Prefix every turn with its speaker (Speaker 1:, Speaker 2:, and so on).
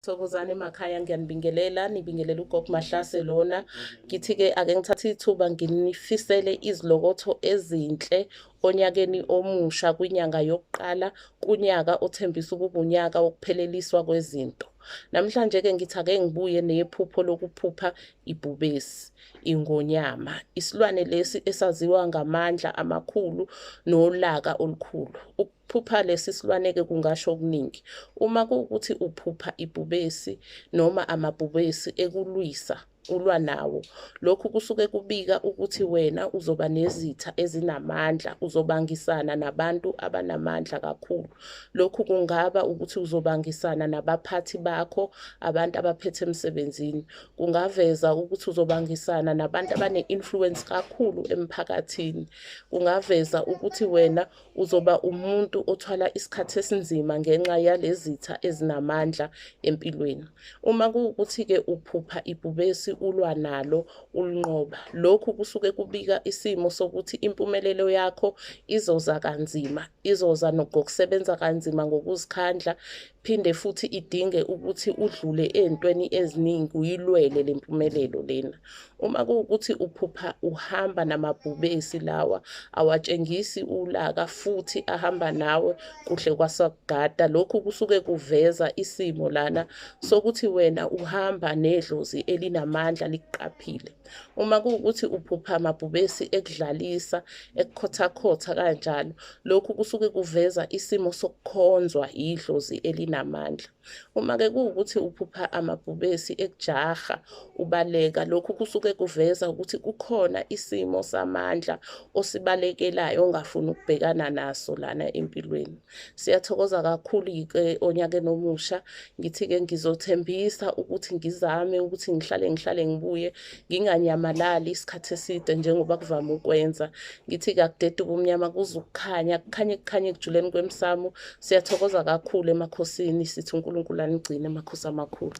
Speaker 1: Thokozani emakhaya ngiyanibingelela nibingelela uGob Mahlase lona ngithi ke ake ngithathe ithuba nginifisele izilokotho ezinhle onyakeni omusha kwinyanga yokuqala kunyaka othembisa ukuba unyaka wokupheleliswa kwezinto namhlanje ke ngithi ake ngibuye nephupho lokuphupha ibhubesi ingonyama isilwane lesi esaziwa ngamandla amakhulu nolaka olukhulu Uk Phupha lesi silwane-ke kungasho okuningi. Uma kuwukuthi uphupha ibhubesi noma amabhubesi ekulwisa ulwa nawo. Lokhu kusuke kubika ukuthi wena uzoba nezitha ezinamandla, uzobangisana nabantu abanamandla kakhulu. Lokhu kungaba ukuthi uzobangisana nabaphathi bakho, abantu abaphethe emsebenzini. Kungaveza ukuthi uzobangisana nabantu abane-influence kakhulu emphakathini. Kungaveza ukuthi wena Uzoba umuntu othwala isikhathi esinzima ngenxa yalezitha ezinamandla empilweni. Uma kuwukuthi-ke uphupha ibhubesi ulwa nalo ulinqoba, lokhu kusuke kubika isimo sokuthi impumelelo yakho izoza kanzima, izoza ngokusebenza kanzima ngokuzikhandla phinde futhi idinge ukuthi udlule ezintweni eziningi uyilwele le mpumelelo lena uma kuwukuthi uphupha uhamba namabhubesi lawa awatshengisi ulaka futhi ahamba nawe kuhle kwasakugada lokhu kusuke kuveza isimo lana sokuthi wena uhamba nedlozi elinamandla likuqaphile Uma kuwukuthi uphupha amabhubesi ekudlalisa, ekukhothakhotha kanjalo, lokhu kusuke kuveza isimo sokukhonzwa yidlozi elinamandla. Uma-ke kuwukuthi uphupha amabhubesi ekujaha, ubaleka, lokhu kusuke kuveza ukuthi kukhona isimo samandla osibalekelayo ongafuni ukubhekana naso lana empilweni. Siyathokoza kakhulu-ke onyakeni omusha. Ngithi-ke ngizothembisa ukuthi ngizame ukuthi ngihlale ngihlale ngibuye nginganyamalali isikhathi eside njengoba kuvame ukwenza. Ngithi kakudeda ubumnyama kuze ukukhanya, kukhanye kukhanye ekujuleni kwemsamo. Siyathokoza kakhulu emakhosini sithi uNkulunkulu anigcine makhosi amakhulu.